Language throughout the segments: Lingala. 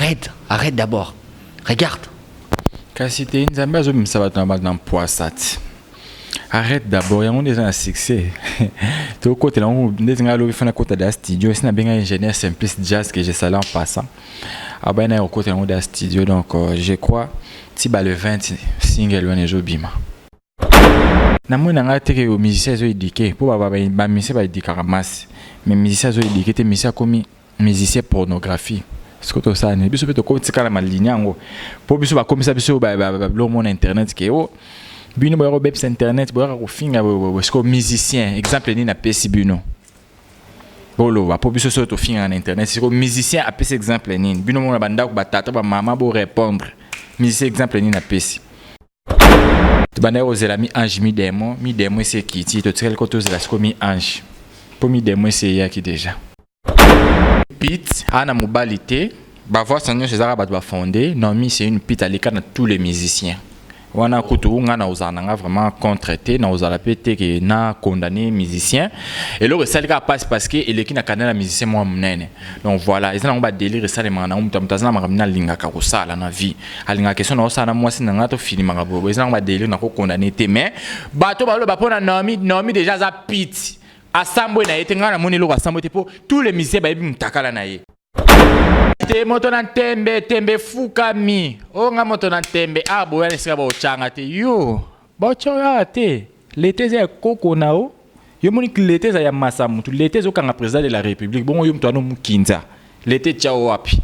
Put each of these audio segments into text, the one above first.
arrête arrête d'abord regarde kasi te nzambe azobimisa bato na bato na mpoasa ti arrête d'abord yango nde eza na succès tokotela yango ndeti ngai alobi fana kota da studio esi nabenga ingénieur simplice jazz que je sala en passant abaya naye kokota yango da studio donc euh, je crois ti ba le 20 single wana ezobima na moi na ngai te ke musicien ezo éduquer mpo bamusicien ba édukaka masse mais musicien azo éduquer te musicien akomi musicien pornographie soki tosala nini biso mpe tokotikala malinia yango mpo biso bakomisa biso biloko mona internet ke o oh, bino boyaka kobebisa internet boyaka kofinga sikoyo musicien exemple nini apesi bino boloba mpo biso soki tofingaka na internet sikoyo musicien apesi exemple nini bino mona bandako batata bamama borépondre musicien exemple nini apesi tobandaki kozela mi ange mi demo mi demo esi ekiti totikali ko tozela siko mi ange mpo mi demo esi eyaki deja pit ana mobali te bavoice na nyonso ezalaka bato bafonde nomi c'est une pit aleka na tous les musiciens wana kutu nga na ozala na nga vraiment contre te na ozala mpe te ke na condamne musicien eloko esali kaka mpasi parce que eleki na kanela musicien mwa monene donc voilà eza nango badélire esalemaka nango moto ya moto aza na makambo nalingaka kosala na vie alingaka question na osala na mwasi na ngai tofilimaka boye eza nango badelire na kokondane te mais bato baloba mpo na naomi naomi deja aza piti asambwe na ye te ngai namoni eloko asambwe te mpo tous les musiciens bayebi motakala na ye te moto na ntembe tembe efukami o oh, ngai moto na ntembe awa ah, boyana esika baocanga te yo Bocho ya te leta eza ya koko na yo yo moni leta eza ya masa mutu leta ezokanga president de la republique bongo yo mutu wana omukinza leta etiao wapi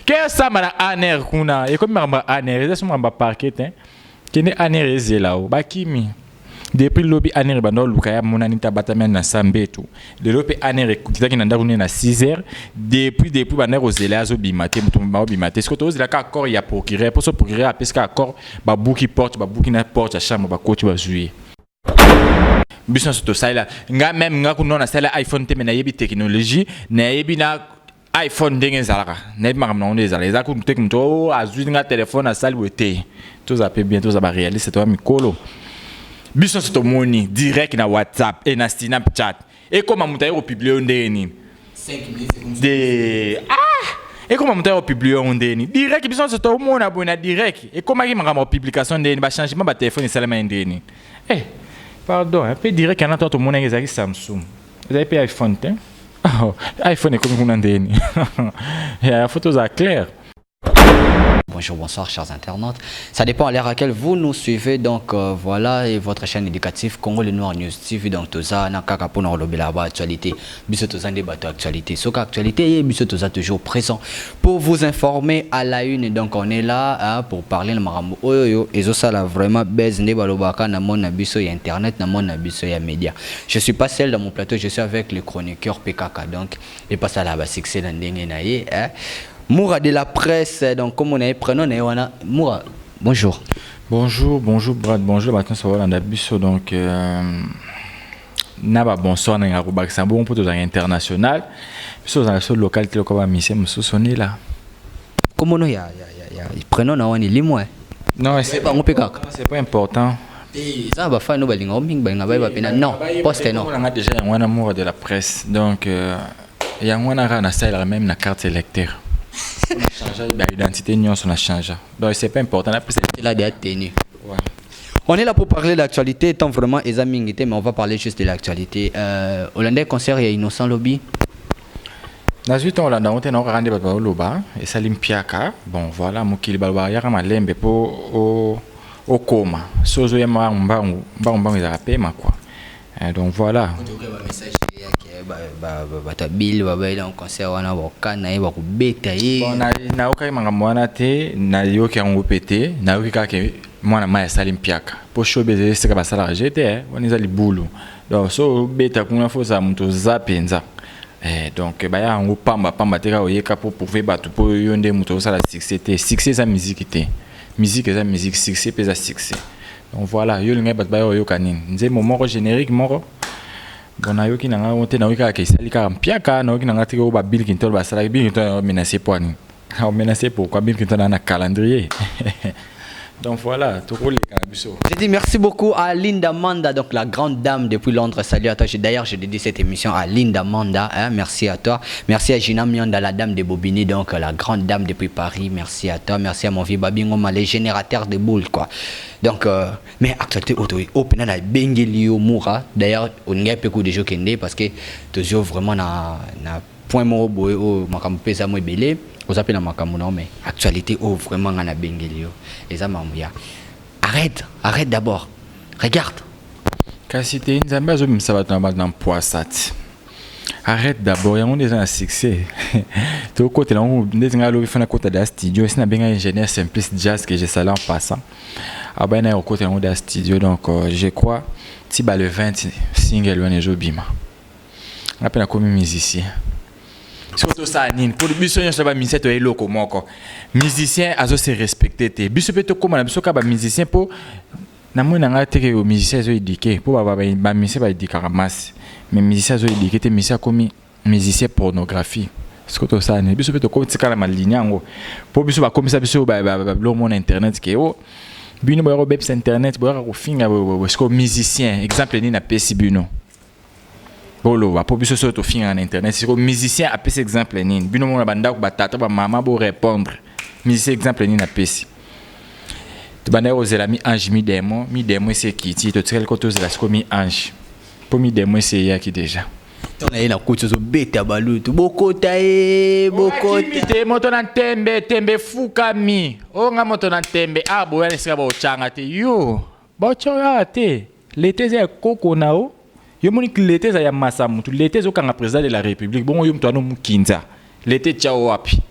ke osamba na aner kuna ekomi makambo ya aner eza so makambo ya parquet te kende aner ezela yo bakimi depuis lobi aner ebanda oluka ya monani te abatami na sambetu lelo mpe aner ekitaki na ndako nini na 6 heures depuis depuis bandaki kozela azobima te moto mobima obima te sikoyo tozela kaka accord ya procureur mpo so procureur apesi kaka accord babuki porte babuki na porte ya chambre bakoti bazwi ye biso nyonso tosalela nga meme nga kuna nasalela iphone te me nayebi technologie nayebi na iphone ndenge ezalaka nayebi makambo nango nde ezala eza kutu teke moto o oh, azwi nga telefone asali boye te toza mpe bien toza barealiste toya mikolo biso nyonso tomoni direct na whatsapp e na snapchat ekoma moto aye kopiblie yo ndenge nini de ah! ekoma moto aye kopiblie yango ndenge nini direct biso nyonso tomona boye na direct ekomaki makambo ya publication ndenge nini bachangement batelefone esalema ye ndenge nini eh pardon mpe direct yana to tomonaki ezalaki samsung ezali mpe iphone te oh, iphone ekomi kuna ndeni ya foto ozala claire Bonjour, bonsoir chers internautes. Ça dépend à l'heure à laquelle vous nous suivez. Donc euh, voilà, et votre chaîne éducative Congo le Noir News TV. Donc tout ça, na kaka pour nous actualité. Biso tout ça, actualité. Ce qu'actualité, biso tout ça toujours présent. Pour vous informer à la une donc on est là hein, pour parler na makambo oyo yo ezo sala vraiment buzz nde balobaka na monde na biso ya internet na monde na biso ya media. Je suis pas seul dans mon plateau, je suis avec le chroniqueur PKK donc et pas ça là ba succès na ndenge na ye hein. Moura de la presse donc comme on a prénom na ye wana Moura bonjour. Bonjour, bonjour Brad, bonjour Martin Savala Ndabiso donc euh... na ba bonsoir nanga kobakisa bongo mpo tozalaka international biso tozalaka so local te lokola bamisie mosusu onila komono ya, ya, ya, ya prenom na wani limwe non c'est bango mpe kaka c'est pas important eza na bafani oyo balingaka mingi balinga bayeba mpe na non poste non nanga déjà yango wana mura de la presse donc euh, yango wana kaka nasalelaka meme na carte électeur change ba identité nyonso na change donc c'est pas important napesa eladi ya tenue On est là pour parler d'actualité, tant vraiment Eza Mingite, mais on va parler juste de l'actualité. Euh, Hollandais concert, il y a Innocent Lobby. nazwi ntango olanda yango te naokaka nde bato baoloba esali mpiaka bon voilà mokili baloba yaka malembe mpo okoma so ozoya mbangu mbangu mbangu mbangu ezalaka pema kua Eh, donc voilà. bato ya bile babaeli na concert wana bakana ye bakobeta ye nayokaki makambo wana te nayoki yango mpe te nayoki kaka ke mwana mai asali mpiaka mpo shobe ezali esika basalaka je te eh, wana eza libulu donc so obeta kuna fo ozala moto oza mpenza Eh, donc eh, baya yango pamba pamba te kaka oyeka mpo prouve bato mpo yo nde moto osala succès te succès eza miziki te miziki eza miziki succès mpe eza succès Donc voilà, yo olingai bato baya oyoka nini? Nzembo moko generique moko bon nayoki na ngai te nayoki kaka esali kaka mpiaka nayoki na ngai te oyo ba Bill Clinton basalaki Bill Clinton ayo menace mpo nini ayo menace pourquoi Bill Clinton aza na calendrier Donc voilà, tokoleka na biso. Je dis merci beaucoup à Linda Manda, donc la grande dame depuis Londres. Salut à toi. D'ailleurs, je dédie cette émission à Linda Manda. Hein, merci à toi. Merci à Gina Mianda, la dame de Bobigny, donc la grande dame depuis Paris. Merci. Merci à toi, merci à mon vieux Babingo ma les générateurs de boules quoi. Donc euh, mais actualité auto open na bengeli yo mura. D'ailleurs, on ngai pe ko déjà kende parce que tozo vraiment na na point moko boye o makambo pesa mo ebele. Oza pe na makambo na mais actualité o vraiment nga na bengeli yo. Eza mambo ya arrête, arrête d'abord. Regarde. Kasi te nzambe azobimisa bato na bato na mpoasa ti Arrete d'abord yango nde eza na succès tokotela yango ndeti ngai alobi fana kota da studio esi nabenga ingénieur simplice jazz que je sala en passant abaya naye kokota yango da studio donc euh, je crois ti ba le 20 single wana ezobima ngai mpe nakomi musicien soki tosala nini mpo biso nyonso ba musicien toya eloko moko musicien azo se respecte te biso mpe tokóma na biso kaka ba musicien mpo Na moi na ngai te que musicien ezo eduquer po ba ba musicien ba educaka masse mais musicien azo eduquer te musicien akomi musicien pornographie sikoyo tosala nini biso mpe tokomi tika na malini yango mpo biso bakomisa biso biloko mona internet ke o bino boyaka kobebisa internet boyaka kofinga sikoyo musicien exemple nini napesi bino boloba po biso soko tofingaka na internet siko musicien apesi exemple nini bino mona bandako batata bamama borépondre musicien exemple nini apesi tobandaki kozela mi ange mi demo mi demo esi ekiti totikali ko tozela siko mi ange mpo mi demo esi eyaki déjà to na ye na koti ozobeta balutu bokota ye bokota te moto na ntembe tembe efukami oyo nga moto na ntembe aboya na esika baocanga te yo Bocho ya te leta eza ya koko na yo yo moni leta eza ya masa mutu leta ezokanga president de la republique bongo yo mutu wana omukinza leta etiao wapi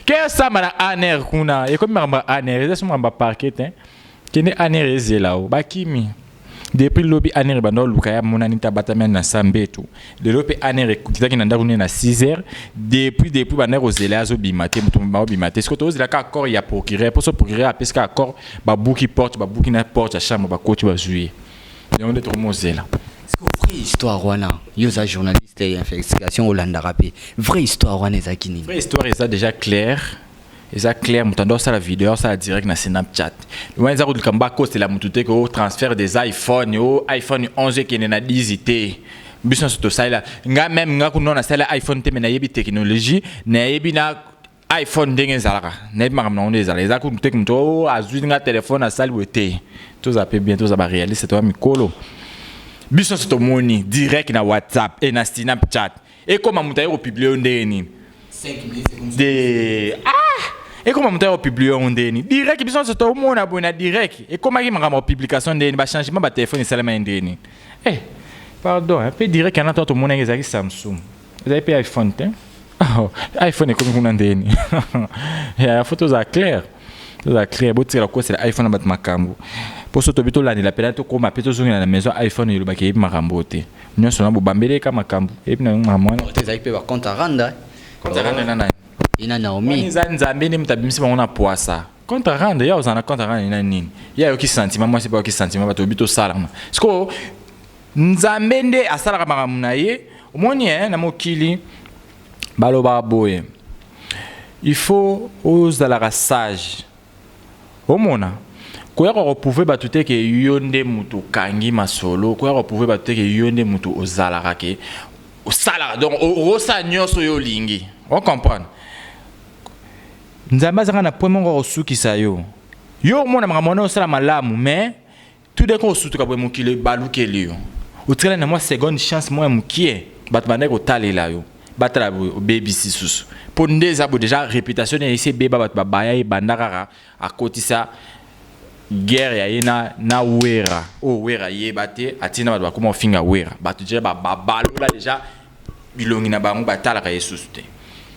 ke osamba na aner kuna ekomi makambo ya aner eza so makambo ya parquet te kende aner ezela yo bakimi depuis lobi aner ebanda oluka ya monani te abatami na sambetu lelo mpe aner ekitaki na ndako nini na 6 heures depuis depuis bandaki kozela azobima te moto mobima obima te sikoyo tozela kaka accord ya procureur mposo procureur apesi kaka accord babuki porte babuki na porte ya chambre bakoti bazwi ye yango nde tokomi ozela vraie histoire wana yo oza journaliste ya investigation olandaka mpe vraie histoire wana ezalaki nini vraie histoire eza déjà claire eza clair moto ando asala video asala direct na snapchat wana eza koduka mba akosela moto te ko transfert des iphone o iphone 11 ekende na 10 te biso nyonso tosalela nga meme nga kuna nasala iphone te me nayebi technologie nayebi na iphone ndenge ezalaka nayebi makambo nango nde ezala eza kutu te moto o azwi nga telefone asali boye te toza mpe bien toza barealiste toza mikolo biso nyonso tomoni direct na whatsapp e na snapchat ekoma moto aye kopublie yo ndenge nini de ah! ekoma moto aye kopublie yango ndenge nini direct biso nyonso tomona boye na direct ekomaki makambo ya publication ndenge nini bachangement batelefone esalemaki ndenge nini eh, pardon eh, mpe direct yana to tomonaki ezalaki samsung ezali mpe iphone te oh, iphone ekomi kuna ndenge nini ya foto ozala claire tozala clair botikala kokosela iphone na bato makambo mpo so tobi tolandela mpela tokóma mpe tozongela na maison iphone elobaki eyebi makambo oyo te nyonso na bobambeli eka makambo eyebi na makambo wana te ezalaki mpe baconte aranda konte aranda na nani ina naomi eza nzambe nde moto abimisi bango na poisa konte aranda ye ozala na konte aranda ina nini ye ayoki santima mwasi mpe ayoki santima bato obi tosalama sikoyo nzambe nde asalaka makambo na ye omoni eh, na mokili Balobaka boye, il faut ozalaka sage. Omona? Koya ko prouver batu te ke yo nde mutu okangi masolo, koya ko prouver batu te ke yo nde mutu ozalaka ke osalaka donc okosala nyonso oyo olingi. O comprendre? Nzambe azalaka na point moko ya kosukisa yo. Yo omona makambo wana osala malamu mais Tout d'un coup osutuka boye mokili ebalukeli yo. Otikali na mwa seconde chance mwa mokie bato bandaki kotalela yo batala boye obebisi susu mpo nde eza boye deja reputation na esi ebeba bato babaya ye banda kaka akotisa guerre ya ye na, na wera oyo oh, wera yeba te atina bato bakoma ofinga wera bato deja babalola deja bilongi na bango batalaka ye susu te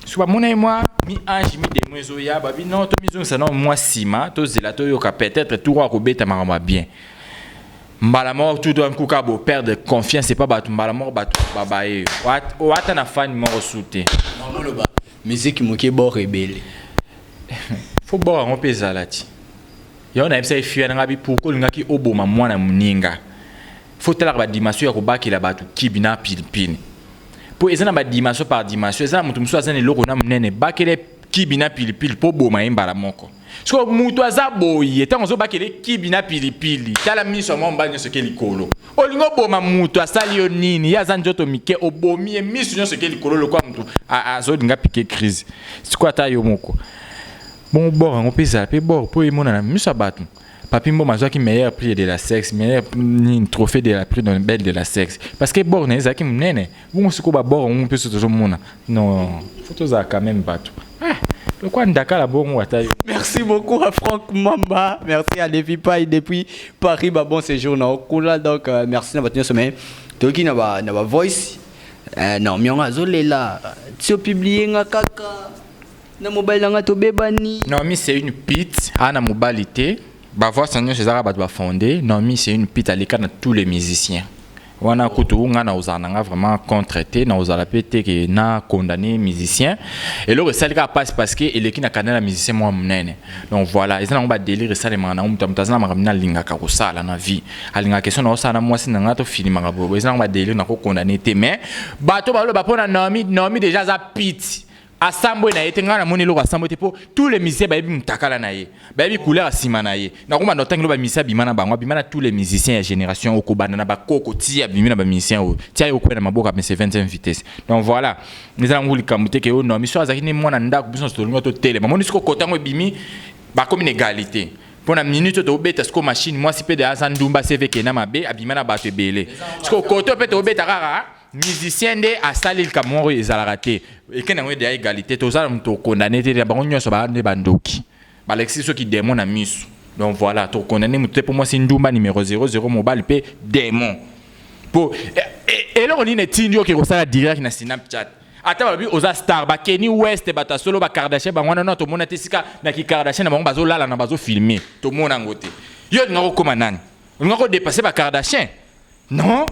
soki bamonaki mwa mi ange mi demo ezoya babi no tomizongisa nao mwa nsima tozela toyoka peut-être tour oyo akobeta makambo ya bien mbala moko tout d'un coup kaka boperdre confiance epa bato mbala moko bato babaye oyo ata na fani moko su te moloba miziki moke bor ebele fo bor yango mpe ezala ti yango nayebisaki fiya na ngai pourkoi olingaki oboma mwana moninga faut talaka ba dimension ya kobakela bato kibi na pilipili mpo eza na ba dimension par dimension eza na moto mosusu aza na eloko na monene bakele kibi na pilipili mpo boma ye mbala moko sikoyo moto aza boye ntango ozobakele kibi na pilipili tala miso ya mwa mobali nyonso eke likolo olingi oboma moto asali yo nini ye aza nzoto mike obomi ye miso nyonso eke likolo lokola moto azolinga pike crise sikoyo ata yo moko bongo bor yango mpe ezala mpe bor mpo emonana miso ya bato Papi Mboma azwaki meilleur prix de la sexe, meilleur nini trophée de la prix dans belle de la sexe. Parce que bord na ezaki munene. Bongo siko ba bord ngu peso tozo mona. Non, faut toza quand même bato. Ah, le quoi ndakala bongo ata yo. Merci beaucoup à Franck Mamba. Merci à Levi Pai depuis Paris. Bah, bon séjour na Okula. Donc, euh, merci na batenyo sommet. Toki na ba na ba voice. Euh, non, mionga zolela. Tio publier nga kaka. Na mobali na nga tobebani. Naomi c'est une pite, ana mobali te. Ba voix na nyonso ezaka bato ba fonde. Naomi c'est une pite aleka na tous les musiciens. Wana kutu nga na ozala na nga vraiment contre te, na ozala pe te que na condamner musicien. Eloko esali kaka pasi parce que eleki na canal ya musicien moko ya munene. Donc voilà, eza nango ba delires esalemaka nango moto ya moto aza na makambo nini alingaka kosala na vie. Alingaka question nao sala na mwasi na nga to filimaka boye boye. Eza nango ba delires nako condamner te mais bato oyo baloba pona Naomi, Naomi dejà aza pite. asambwe na ye te ngai namoni eloko asambwe te mpo tous les musiciens bayebi mutakala na ye bayebi couleur ya nsima na ye nakomanda otangi lo bamusicien abima na bango abima na tous les musiciens ya génération oyo kobanda na bakoko ti abimi na bamusicien oyo ti aye kokwea na maboko ya mese 25 vitesse donc voilà eza nango likambo te ke oyo no miso azalaki nde mwana ndako biso nyonso tolinga totelema moni siko kota yango ebimi bakomi na egalite mpo na minute oyo tobeta sikoyo machine mwasi mpe de aza ndumba sevekena mabe abima na bato ebele sikoyo koto mpe tobeta kaka musicien nde asali likambo moko ezalaka te ekende yango edeya egalite tozala moto okondane te na bango nyonso baa nde bandoki balakisi biso kidemo na miso donc voilà tokondane moto te mpo mwasi ndumba numero 00 mobali mpe demon mpo eh, eh, eloko nini etindi oke kosala direct na snapchat ata balobi oza star bakeni west bato ya solo bakardashin bango wana no tomona te esika na kikardashin na bango bazolala na bazofilme tomona yango te yo olinga kokóma nani olinga kodepase bakardashin non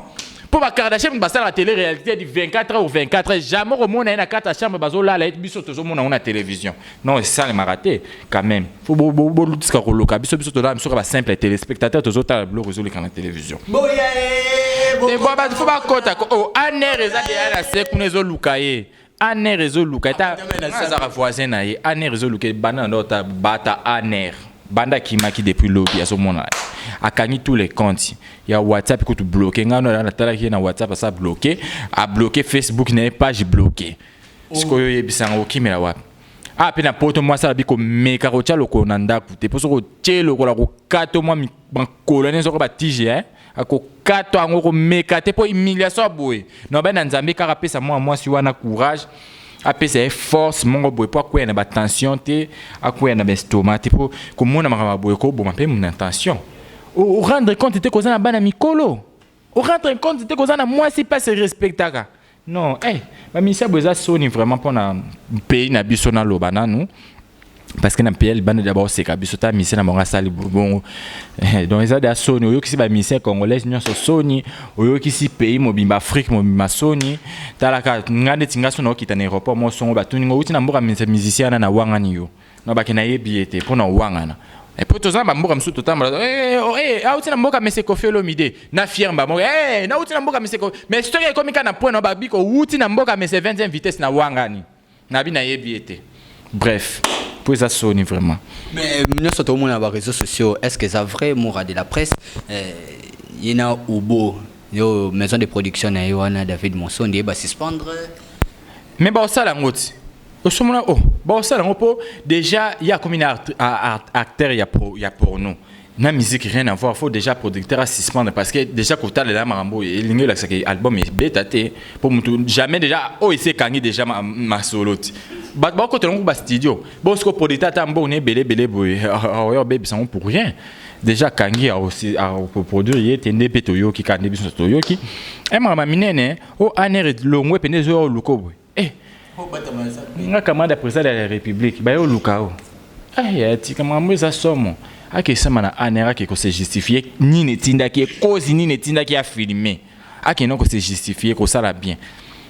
mpo ba kardashian basalaka tele réalité du 24 heures ou 24 heures jamais okomona ye na kati ya chambre bazolala ye biso tozomona yango na télévision non esalemaka te quand même fo bolutisaka koloka biso biso tolala biso ka basimple téléspectateur tozotala biloko ezoleka na télévision fo bakota o aner eza deya na se kuna ezoluka ye aner ezoluka eta azaka voisin na ye aner ezoluka ebanda na ndo ta bata aner banda akimaki depuis lobi azomona ye akangi tous les comptes ya whatsapp kutu bloke ngai no natalaki ye na whatsapp asa bloke abloke facebook na ye page bloke sikoyo oyebisa yango okimela wapi ah mpe na poto mwasi alabi komeka kotya lokolo na ndako te mpo soki otye lokola kokato mwa makolo ene soko batije eh? akokatwa yango komeka te mpo humiliation ya boye na obali na nzambe kaka apesa mwana mwasi wana courage apesa ye force moko boye mpo akwea na batension te akwea na baestoma te mpo komona makambo ya boye koboma mpe na tension orendre compte te koza na bana mikolo orendre compte te koza na mwasi mpe aserespectaka Non, eh, ba ministère boza soni vraiment pona pays na biso na loba nanu. parce que na mpl banda dia baoseka biso ta misien na bango asali bongo eh, donc eza dia soni oyokisi bamisien congolais nyonso soni oyokisi pays mobimba afrique mobimba soni talaka nga ndeti nga so naokita na aéroport mosongo batuni ngo outi na mboka musicien wana na wangani yo Non bake nayebi ye te mpo na owangana mpo toza na bamboka mosusu totambola auti na mboka mese kofi olomide na fiere bamboka nauti na mboka mese mais soki ekomi kaka na point na babiko outi na mboka mese 20e vitesse na wangani nabi nayebi ye te bref mpo eza soni vraiment mais nyonso tokomona na bareseau sociaux est ce que eza vrai mora de la presse eh, ye na ubo yo maison de production na ye wana david monsondi ye basuspendre mais baosala yango ti osomona o oh, baosala yango mpo déjà ye akomi na acteur ya, pro, ya porno na musique rien à voir faut déjà producteur à suspendre parce que déjà kotalela makambo oyo elingi olakisa ke album ebeta te mpo motu jamais déjà oyo oh, esi ekangi déjà masolo ti bato bakotela yango bastudio bosiko producteur ata mbongo na ebele ebele boye oyo obebisa yango pour rien déjà kangi akoproduire ye te nde mpe toyoki kaka nde biso toyoki e makambo minene o oh, aner elongwe mpenza ezoya oluko boye Eh, nga camarade ya président de la république baye oluka o eh, ya tika makambo eza somo akesama na anera ke kose justifier nini etindaki ye kozi nini etindaki ye afilme akenda kose justifier kosala bien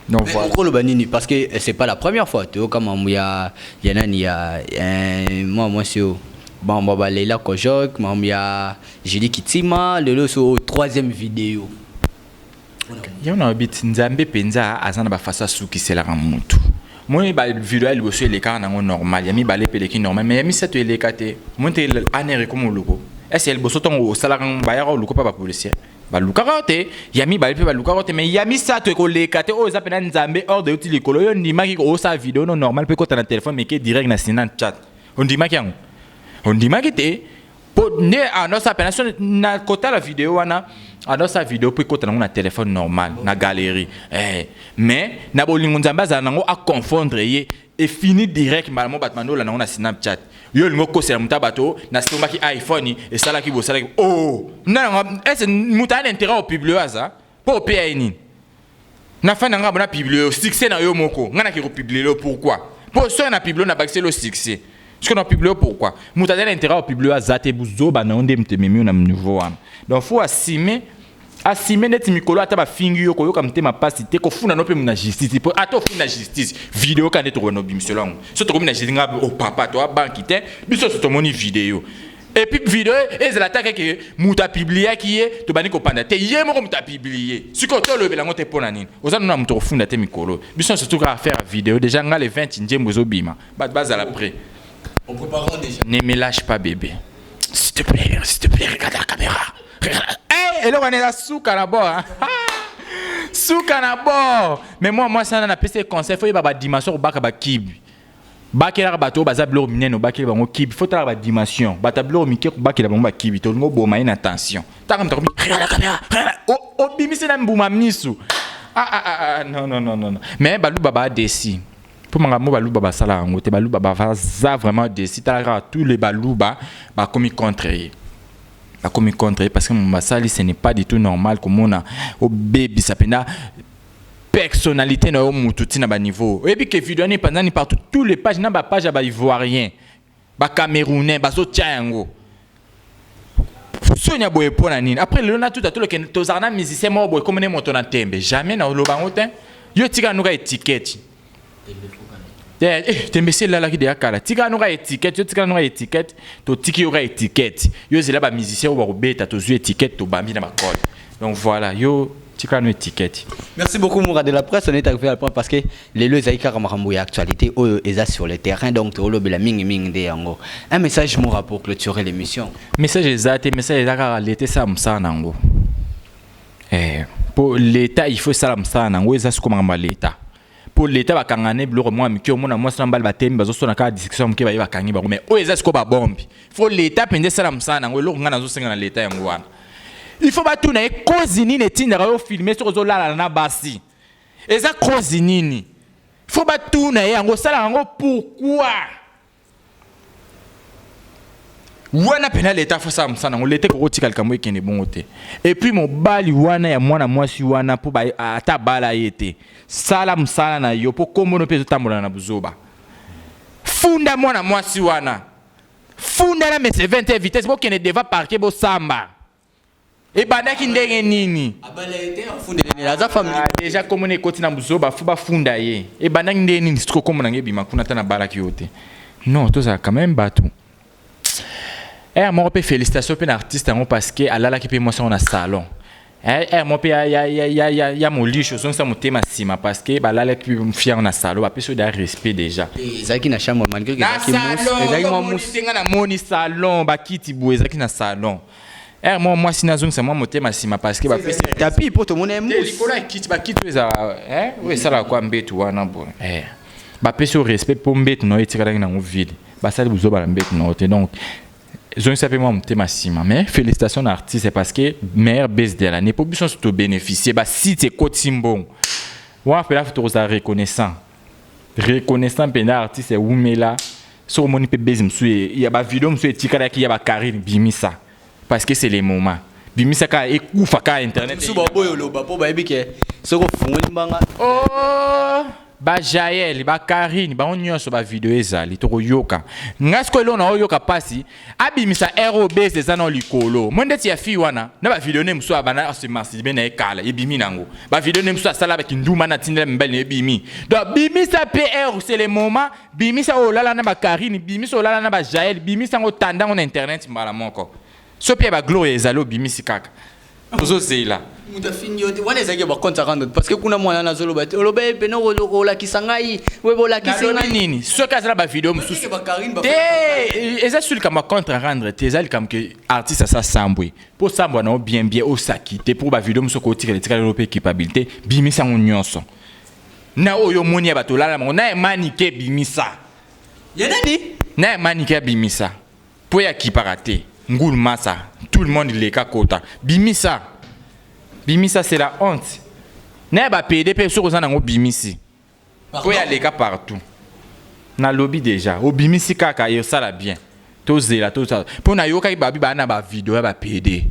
donc Mais voilà okoloba nini parce que eh, c'est pas la première fois toyoka mambo ya ya nani ya eh, mwa mwasi oyo mambo ya baleila kojok mambo ya julie kitima lelo so oyo troisième video yango na lobi ti nzambe mpenza aza na bafaso asukiselaka motu moi bavideo ya liboso elekaka nango normal ya mibale mpe eleki normal mai ya misato eleka te moi te aner ekoma oluko ese ya liboso ntango osalaka ngo bayaka oluko mpe bapolisier balukaka te ya mibale mpe balukaka te mai ya misato ekoleka te oyo eza mpena nzambe ordre euti likolo yo ondimaki osala video no normal mpe kota na telefone meke direct na sinan chat ondimaki yango ondimaki te po nde anosa pena so na kotala video wana anosa video po ekota nango na telefone normal na galerie eh. mais na bolingo nzambe azala nango aconfondre ye efini direct mbala mo bato mandola nango na snapchat yo olingi okosela moto ya bato nasombaki iphone esalaki bosalaki o oh, nanga ese moto aya na interet opublio aza Po pe ya nini? Na fan na nga bona publier yo succès na yo moko. Nga na ke ko publier yo pourquoi? Po soki na publier na bakiseli yo succès. Soki na publier yo pourquoi? Mutu azali na interet ya ko publier yo aza te buzoba na yo nde mutu ememi yo na niveau wana. Donc faut assumer assumer neti mikolo ata ba fingi yo koyoka motema pasi te kofuna no pe na justice po ata ofuni na justice video ka nde tokona obimiselo yango so tokomi na justice nga oh papa to abanki te biso so tomoni video Et puis video ezala atake ke mutu apibliaki ye tobandi kopanda te ye moko mutu apiblie sikoyo tolobela yango te mpo na nini oza nuna moto kofunda te mikolo biso surtout kaka faire video déjà nga le 20 njembo ezobima bato bazala près ne me lâche pas bébé s'il te plaît s'il te plaît regarde la caméra regarde hey, eloko wana eza suka na bord hein? suka na bord mais moi mwasi wana napesi ye conseil fo yeba badimension kobaka bakibi bakelaka bato oyo baza biloko minene obakeli bango kibi fo talaka badimension bato ya biloko mike kobakela bango bakibi tolingi oboma ye na tension taka moto akomi regarde la caméra regarde la- o- obimisi na mbuma misu ah, ah, ah, ah, non, non, non, non, non. mais baluba badesi mpo makambo baluba basala yango te baluba baza vraiment desi tala kaka tous les baluba bakomi contre ye bakomi contre ye parce que moto basali ce n'est pas du tout normal komona obebisa mpenza personnalite na yo mutu ti na ba niveau oyebi ke video wana epanzani partout tous les pages na ba page ya ba ivoirien ba camerounais bazotia yango sonya boye mpo na nini après lelo natuta toloke tozala na musicien moko boye komone moto na ntembe jamais na oloba yango te yo tika nuka etiketi Eh, eh, tembe si elalaki deya kala tika noka etikete yo tika noka etikete totiki yoka etikete yo ezela bamusicien oyo bakobeta tozwi etikete tobambi na makole donc voilà yo tika no etikete merci beaucoup moura de la presse on est arrivé à la point parce que lelo ezali kaka makambo ya actualité oyo eza sur le terrain donc tokolobela mingi mingi nde yango un message moura pour clôturer l'émission message eza te message eza kaka leta esala mosala na yango eh, mpo leta il faut esala mosala na yango eza siko makambo ya leta mpo leta bakanga ne biloko mwa mike omona mwasi na mbali batemi bazosona kaka discussion moke baye bakangi bango mai oyo eza siko babombi fo leta mpenza esala mosala na yango eloko ngai nazosenga na leta yango wana il faut batuna ye kozi nini etindaka yo filme soki ozolalala na basi eza kozi nini fo batuna ye yango osala yango pourkui wana pena leta afo asala mosala yango leta ekoki kotika likambo ekende bongo te epuis mobali wana ya mwana mwasi wana mpo ata abala ye te sala mosala na yo mpo kombono mpe ezotambola na buzoba funda mwana mwasi wana funda na mese 20 vitesse bokende deva parke bosamba ebandaki ndenge nini deja komo na ekoti na buzoba fo bafunda ye ebandaki ndenge nini siko komo na ngai ebima kuna ata nabalaki yo te non tozala quand même bato ere moko mpe félicitation mpe na artiste yango parce que alalaki mpe mwasi yango na salon ere eh, eh, moko mpe ya, ya, ya, ya, ya, ya molisho ozongisa motema nsima parce que balalaki mpe mfi yango na salon bapesi yo da respect déjà eh, ezalaki na chambre malgré ezalaki mwa musi nga namoni salon bakiti boye ezalaki na salon Heure moko mwasi na azongisa mwa motema nsima parce que bapesi ye Tapis mpo tomona ye te mousse. likolo ya kiti bakiti oyo eza eh, oyo esalaka kwa mbetu wana boye eh. bapesi yo respect mpo mbetu na yo etikalaki nango vide basali buzoba na mbetu na yo te donc zongisa mpe mwa motema nsima mais félicitation na artiste parce que meilleur base de l'année mpo biso nyonso tobénéficie basite ekotisi mbongo wana mpenza tokozala reconnaissant reconnaissant mpenza artiste wumela soki omoni mpe base mosusu ya bavideo mosusu etikalaki ya bakarine bimisa parce que c'est le moment bimisa kaka ekufa kaka internet mosusu baoboyi oloba mpo bayebi ke soki ofungoli mbanga oh, bajael bakarine bango nyonso bavideo ezali tokoyoka ngai sikoyo eloko naoyoka mpasi abimisa ROBs eza na likolo moi ndeti ya fille wana na ba video ne musu abana se masturbe na ekala ebimi nango ba video ne musu asala ba kinduma na tindela mbali ne ebimi donc bimisa PR c'est le moment bimisa olala na ba Karine bimisa olala na ba Jael bimisa ngo tandango na internet mbala moko sopi ya ba Gloria ezali obimisi kaka Ozo zela mutu afingi yo te wana ezalaki ya ba compte ya rando parce que kuna mwana na zolo ba te oloba ye pene olakisa ngai webe olakisi ngai nini soki azala ba video mususu te eza sur likambo ya compte rendre te eza likambo ke artiste asa sambwe po sambwa na yo bien bien osaki te po ba video mususu okotikala etikala yo pe culpabilité bimisa yango nyonso na oyo omoni ya bato olala bango na emani ke bimisa ya nani na emani ke abimisa Po ya kipaka te ngulu masa tout le monde leka kota bimisa bimisa c'est la honte na ya ba pede pe soki oza na ngo bimisi po ya leka partout na lobi dejà obimisi kaka et osala bien tozela tozala po na yokaki ba bi ba na ba video ya ba pede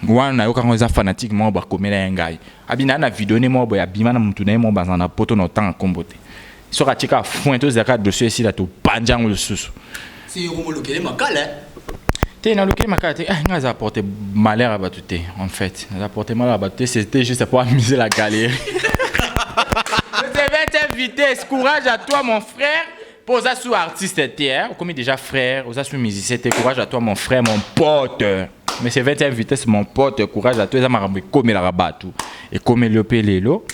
wana nayoka yango eza fanatique moko bakomela ye ngai abina na video ne moko boye abima na motu na ye moko bazala na poto na otanga nkombo te soki atie kaka foin tozela kaka dossier esila tobanja yango lisusu te nalukeli makala te eh, ngai aza apporte malheur ya bato te en fait aza apporte malheur ya bato te c'était juste pour amuser la galerie je vais t'inviter courage à toi mon frère mpo oza su artiste te okomi déjà frère oza su musicien te courage à toi mon frère mon pote mais c'est 20 vitesse mon pote courage à toi eza makambo ekomelaka bato ekomeli yo mpe lelo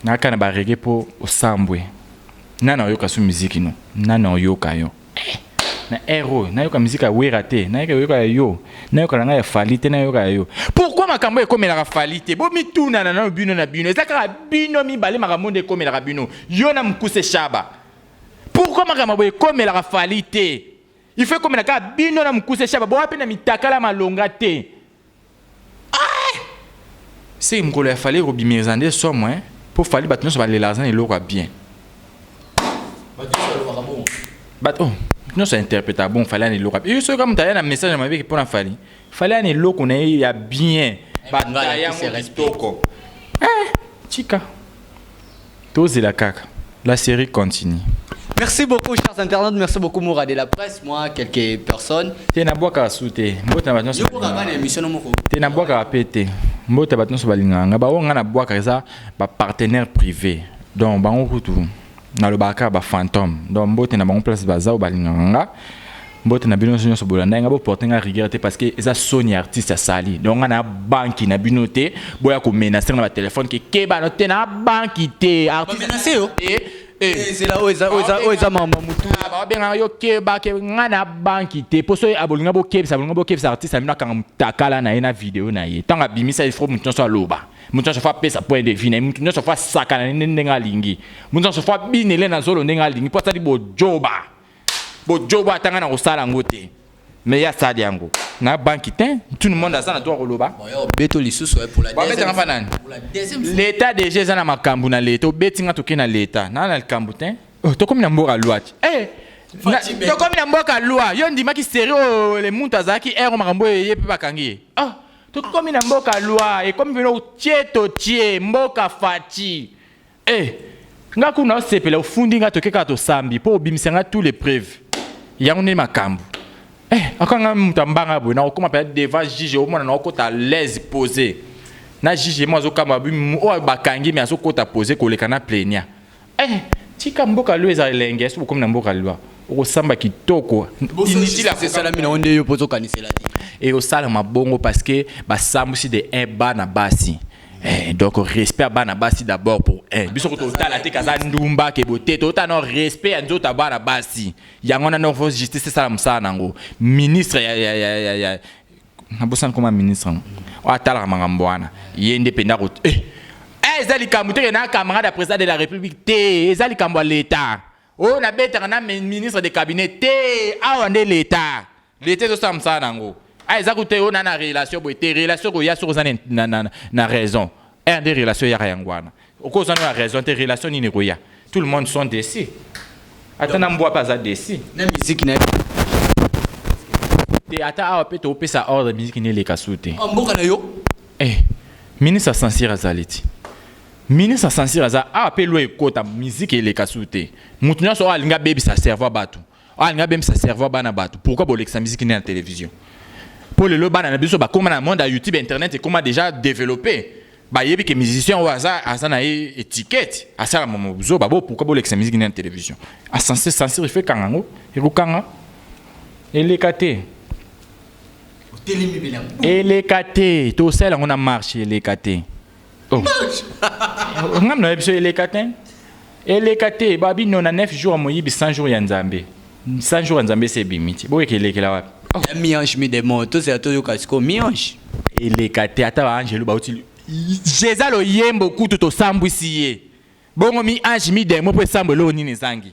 naka na barege mpo osambwe nani ayoka so miziki no nani ayoka yo eh, na ero nayoka miziki ya wera te nayoka yoka ya yo nayoka na ngai ya fali te nayoka ya yo pourkui makambo ekomelaka fali te bomitunana nano bino na bino eza kaka bino mibale makambo nde ekomelaka bino yo na mokuse shaba pourkui makambo boye ekomelaka fali te il faut ekomela kaka bino na mokuse shaba boa mpe na mitakala malonga te ah! se mokolo ya fali ekobimiriza nde somo eh? mpo fali bato nyonso balela aza na eloko ya bien bato oh, nyonso interpreta bon fali ana eloko ya bien soki kaka moto aya na message ya mabe mpo na fali fali ana eloko na ye ya bien eh, bataya yango kitoko eh, tika Tozela kaka la serie continue. Merci beaucoup chers internautes, merci beaucoup Moura de la presse, moi quelques personnes. Te na bwaka su te. Mbote na bato Yo boka nyonso. bana emission no moko. Te na bwaka pe te. Mbote bato nyonso balingaka nga. Ba oyo nga na bwaka eza ba partenaires privés. Donc bango kutu nalobaka kaka ba fantome donc mbote na bango place baza oyo balingaka nga mbote na bino nyonso nyonso bolandai nga boporte nga rigueur te parce que eza soni ya artiste asali donc nga na banki na bino te boya komenase nga na batelefone ke kebano te na banki te artiste yo te ezela oyo eza oyo eza oyo eza mama mutu babengaka yo keba ke nga na banki te mpo soki abolinga bokebisa abolinga bokebisa artiste na bino akanga motakala na ye na video na ye ntango abimisa il faut moto nyonso aloba moto nyonso fo apesa point de vue na ye moto nyonso fo asakana nende ndenge alingi moto nyonso fo abinele na zolo ndenge alingi mpo asali bojoba bojoba atanga na kosala yango te mais ye asali yango na banki te tout le monde aza na droit koloba beto lisusu babetanga mpa nani leta deja eza na makambo na leta obeti nga toke na leta naa na likambo te oh, tokomi na mboka lwati eh, tokomi na mboka lwa yo ondimaki seri oyo oh, le muntu azalaki ero makambo oyo ye mpe bakangi ye ah. Tokomi na mboka loi ekomi bino tie to tie mboka faci eh nga kuna osepela ofundi nga toke kaka tosambi mpo obimisa nga tous les preuves yango nde makambo eh akanga moto ambanga boye nakokoma mpenza devant juge omona nakokota laise pose na juge mo azokamwa oyo bakangi me azokota pose koleka na plenia Eh, tika mboka loi eza elengi, esi bokomi na mboka loi, okosamba kitoko. Inutile ya kosalami na yo nde yo mpe ozokanisela te. Ekosalama bongo parce que basambwisi de un bana basi. Eh, donc respect ya bana basi d'abord pour un. Biso ko totala te kaza ndumba ke bote, totala na respect ya nzoto ya bana basi. Yango wana noko justice esala mosala na yango. Ministre ya ya ya ya nabosani koma ministre yango oyo atalaka makambo wana ye nde mpenza ko eh, eh, eza likambo teke na camarade ya président de la république te eza likambo ya leta oyo oh, nabetaka na ministre de cabinet te awa nde leta leta ezosala mosala na yango a ah, eza kutu te oyo oh, na na relation boye te relation koya soki oza na, na, na, na raison erde relation eyaka yango wana okozwa na raison te relation nini ekoya tout le monde sont déçus ata na mbwa mpe aza déçu na miziki na ye te ata awa mpe topesa ordre miziki neleka su te ah, mboka na yo eh, ministre sansir azali ti ministre sansir aza awa mpe lwa ekota miziki eleka su te moto nyonso oyo alingi abebisa cerveau ya bato Ah, nga bem sa cerveau bana batu. Pourquoi bolekisa musique na télévision? Pour le bana na biso ba koma na monde ya YouTube internet et comment déjà développé. Ba yebi que musicien ou aza aza na étiquette. Asala momo buzo babo pourquoi bolekisa musique na télévision? A sensé sensible fait kangango. Eko kanga. Eleka te. Eleka te. To sala ngona marche eleka te. Oh. nga mna biso eleka te eleka te babi no na 9 jours moyibi 100 jours ya nzambe 100 jours ya nzambe se ebimi ti boyeke elekela wapi oh. ya miange mi demon tozela toyoka sikoyo miange eleka te ata baangelu bauti jeza loyembo kutu tosambwisi ye bongo mi ange mi demon mpo esambo eloko nini ezangi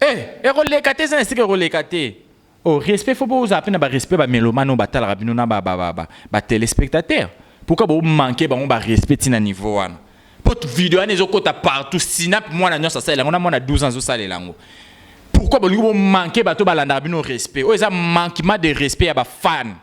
Eh eko leka te eza na esika eko leka te. Oh respect faut bo zala pe na ba respect ba melomane oyo ba talaka bino na ba ba ba ba telespectateur pourquoi bo manque bango ba respect ti na niveau wana po video wana ezo kota partout synap mwana nionso asalela yango na mwana 12 ans azo salela yango pourquoi bolingi bo manque bato ba landaka bino respect oyo eza manquement de respect ya ba fans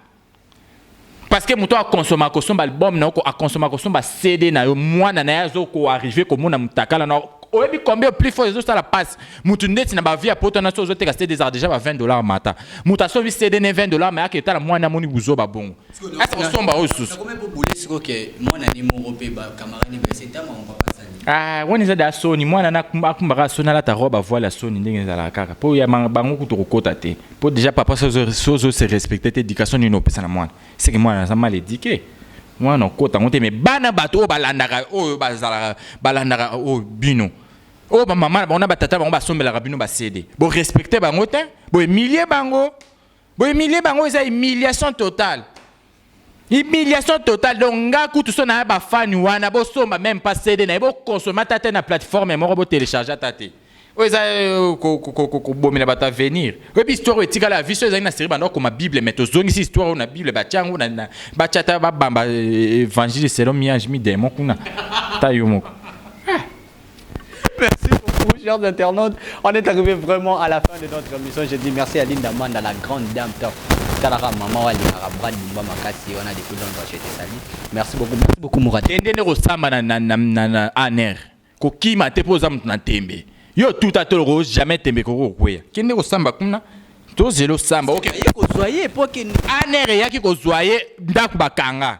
parce que moto akonsoma akosomba album na yo akonsoma akosomba cd na yo mwana na ye azokoarrive komona motakala na oyebi combien plus fort ezosala passe moto ndeti na bavie ya poto na so ozoteka cd ezaka deja ba 20 dollar mata moto asombi cd ne 20 dollar mayaka etala mwana amoni buzoba bongo asa kosomba oyo susu Ah, wana eza da soni mwana akumbaka soni alata robe avoile ya soni ndenge ezalaka kaka mpo ya bango kutu kokota te po dejà papa soki ozo se respecte te education nini opesa na mwana seke mwana aza mal eduque mwana okota yango te mais bana bato oyo balandaka oyo bazalaka balandaka oyo bino oyo bamama na bango na batata bango basombelaka bino basede borespecte bango te boemilie bango boemilie bango eza emiliation totale Humiliation totale donc nga kutu so naya ba fan wana bo somba meme pas CD na ye bo consommer ata te na plateforme moko bo telecharger ata te oyo eza kobomela bato avenir oyebi histoire oyo etikala ya viso ezali na serie banda okoma bible mais tozongisi histoire oyo na bible batya yango batya ata babamba évangile selon miange mi demon kuna ta yo moko Merci beaucoup, chers internautes. On est arrivé vraiment à la fin de notre émission. Je dis merci à Linda Manda, la grande dame top. Talara maman wa lingara brad mumba makasi wana depuis longtemps je te salue. Merci beaucoup. Merci beaucoup Mourad. Tende ne kosamba na na na na, na aner. Kokima te poza mtu na tembe. Yo tuta toloko jamais tembe koko kweya. Kende kosamba kuna tozela osamba oke ye kozwa ye mpo akende anere eyaki kozwa ye ndako bakanga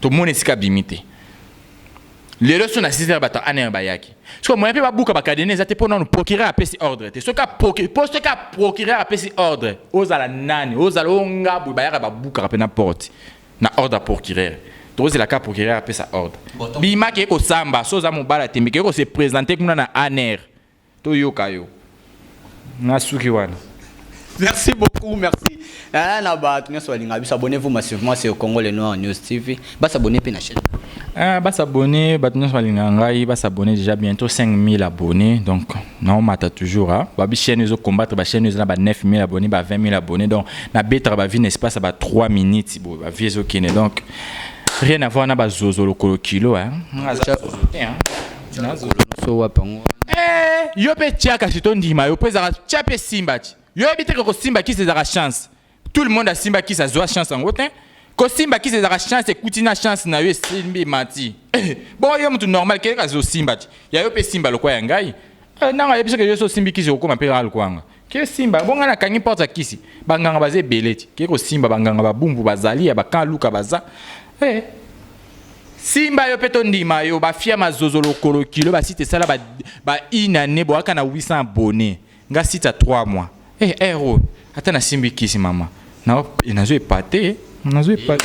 tomoni esika abimi te lelo so na 6 heures bato anr bayaki sikoyo moya mpe babuka bakadene eza te mpo nano procureur apesi ordre te soki mpo soki procureur apesi ordre ozala nani ozala o ngabwe bayaka babukaka mpe na porte na ordre ya procureur tozela ka procureur apesa ordre bimaki ekosamba so oza mobala tembe ke ekose présente kuna na anr To yoka yo n'a suki wana. Merci beaucoup merci eh, na bato nyonso balinga biso abonnez vous massivement sur Congo le Noir News TV ba s'abonner pe na chaîne eh, ba s'abonner bato nyonso balinga ngai ba s'abonner déjà bientôt 5000 abonnés donc na omata toujours hein ba bi chaîne ezo combattre ba chaîne ezo na ba 9000 abonnés ba 20000 abonnés donc na betra ba vie n'est-ce pas ça ba 3 minutes bo ba vie ezo kene donc rien à voir na ba zozo lokolo kilo hein, hein. Eh, yo mpe tya kasi tondima yo mpo ezaka tya mpe simba ti yo yebi teke kosimba kisi ezaka chance tout le monde asimba kisi azwa chance yango te kosimba kisi ezaka chance ekuti na chance na yo esimbi emati eh, bongo yo motu normal keke kasi osimba ti ya yo mpe simba lokwa ya ngai eh, nanga yebi soki yo so osimbi kisi okokoma mpe kaka lokwa yanga ke simba bonga na kangi porte ya kisi banganga baza ebele ti ke kosimba banganga babumbu bazali ya bakan luka baza hey. Eh. simba yo mpe tondima yo bafia mazozo lokolo kilo basite esala ba, ba une année boyaka na 800 abonne nga site ya 3 mois hey, eh, eh, ero ata nasimbi kisi mama nazo epate nazo epate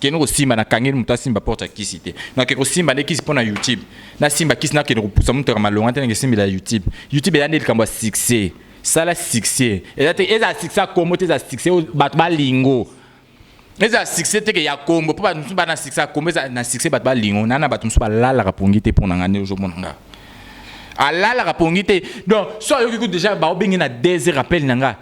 kende kosimba na kangeli moto asimba porte ya kisi te nake kosimba nde kisi mpo na youtube nasimba kisi nakende kopusa moto ya malonga te nake esimbela ya youtube youtube eya nde likambo ya succès sala succès eza te ezala succès ya kombo te ezala succès oyo bato balingo ezala succès teke ya kombo mpo bato mosusu bana succès ya kombo ezala na succès bato balingo naa na bato mosusu balalaka pongi te mpo na ngai nde ozomona ngai alalaka pongi te donc so ayoki kutu deja baobengi na deux heures appel na ngai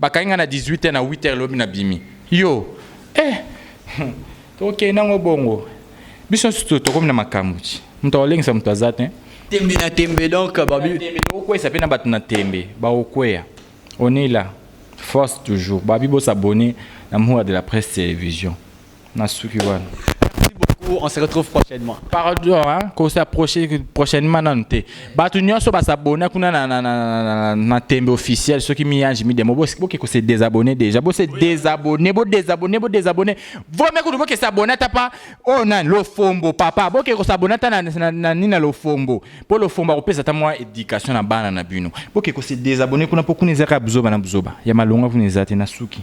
Bakangi nga na 18 heures na 8 heures lobi na bimi. Yo eh tokende nango bongo biso nsusu tokomi na makambo ti moto akolengisa moto aza te tembe na tembe donc babiokweisa mpe na bato na tembe baokweya on est là force toujours babi bosabone na mura de la presse télévision nasuki wana on se retrouve prochainement. Pardon, hein, qu'on s'approche prochainement nanu te. Batu nyonso ba s'abonner kuna na na na na tembe officiel soki mi ange mi demo bo boke ko se désabonner déjà. Bo se désabonner, bo désabonner, bo désabonner. Vaut mieux que boke s'abonner ta pas oh na lo fombo papa. Boke ko s'abonner ta na na na ni na lo fombo. Po lo fombo ko pesa ta moi éducation na bana na bino. Boke ko se désabonner kuna po kuna ezaka buzoba na buzoba. Ya malonga kuna ezate na suki.